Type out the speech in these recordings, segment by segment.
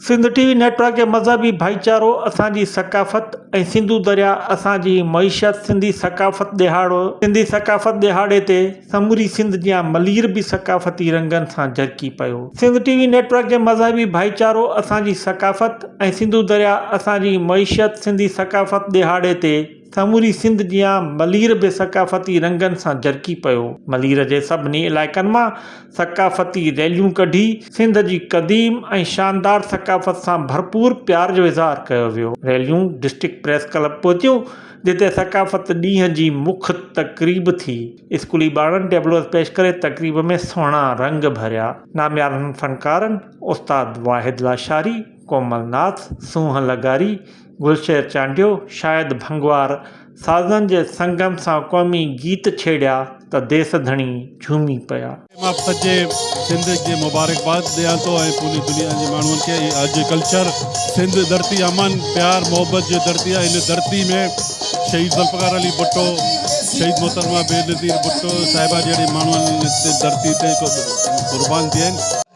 Sindh T V network جي مذهبي ڀائيچارو اسان جي ثقافت ۽ سنڌو درياء اسان جي معيشت سنڌي ثقافت ڏهاڙو سنڌي ثقافت ڏهاڙي تي سموري سنڌ جيان ملير به ثقافتي رنگن سان جرڪي پيو سنڌ ٽي وي نيٽورڪ جي مذهبي ڀائيچارو اسان جي ثقافت ۽ سنڌو درياء اسان جي معيشت سنڌي ثقافت ڏهاڙي تي. سموري سنڌ جيان ملير به ثقافتي رنگن سان جرڪي پيو. ملير جي سڀني علائقن مان ثقافتي ريليون ڪڍي سنڌ جي قديم ۽ شاندار ثقافت سان ڀرپور پيار جو اظهار ڪيو ويو. ريليون ڊسٽرڪٽ پريس ڪلب پهتيون، جتي ثقافت ڏينهن جي مک تقريب ٿي. اسڪولي ٻارڙن ٽيبلوز پيش ڪري تقريب ۾ سهڻا رنگ ڀريا. ناميارن فنڪارن استاد واحد لاشاري، ڪومل ناٿ، سونهن لغاري، گلشير چانڊيو شايد ڀنگوار سازن جي سنگم سان قومي گيت ڇيڙيا ته ديس ڌڻي جهومي پيا. مان سڄي سنڌ کي مبارڪباد ڏيان ٿو ۽ پوري دنيا جي ماڻهن کي هي آجي ڪلچر سنڌ ڌرتي امن پيار محبت جي ڌرتي آهي هن ڌرتي ۾ شهيد ذوالفقار علي ڀٽو شهيد محترمه بينظير ڀٽو صاحبه جهڙي ماڻهن هن ڌرتي تي قربان ٿيا آهن.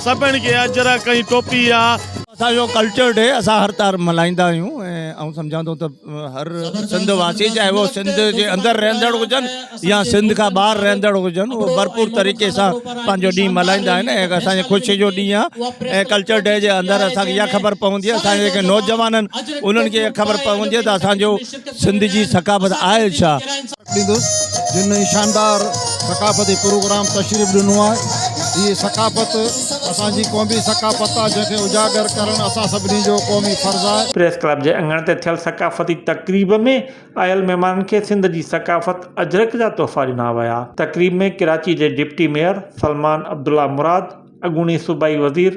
سڀني کي اجرڪ ۽ ٽوپي آ. اسان جو ڪلچر ڊي اسان هر طار ملهائيندا آهيون ۽ آئون سمجهان ٿو ته هر سنڌ واسي چاهي هو سنڌ جي اندر رهندڙ هجن يا سنڌ کان ٻاهر رهندڙ هجن اهو ڀرپور طريقي سان پنهنجو ڏينهن ملهائيندا آهن ۽ اسان جي خوشي جو ڏينهن آهي ۽ ڪلچر ڊي جي اندر اسان کي اها خبر پوندي آهي اسان جي جيڪي نوجوان آهن انهن کي اها خبر پوندي آهي ته اسان جو سنڌ جي ثقافت آهي ڇا؟ ڏيندس جن هي شاندار ثقافتي پروگرام تشريف ڏنو آهي هي ثقافت اسان جي قومي ثقافت آهي جنهن کي اجاگر ڪرڻ اسان سڀني جو قومي فرض آهي. پريس ڪلب جي اڱڻ تي ٿيل ثقافتي تقريب ۾ آيل مهمانن کي سنڌ جي ثقافت اجرڪ جا تحفا ڏنا ويا تقريب ۾ ڪراچي جي ڊپٽي ميئر سلمان عبدالله مراد، اڳوڻي صوبائي وزير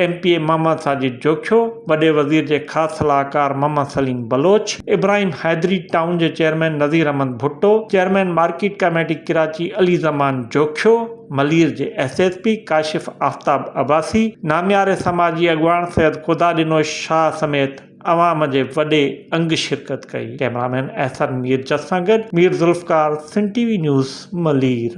M P A Muhammad Sajid Jokhio, وڏي وزير جي خاص صلاحڪار محمد سليم بلوچ، ابراهيم حيدري، ٽائون جي chairman Nazir Ahmed Bhutto, chairman market committee Karachi Ali Zaman Jokhio, Malir جي S S P Kashif Aftab Abbasi, نامياري سماجي اڳواڻ سيد خدا ڏنوش شاهه سميت عوام جي وڏي انگ شرڪت ڪئي. ڪئميرامين احسن ميرجس سان گڏ Mir Zulfiqar, Sindh T V news, Malir.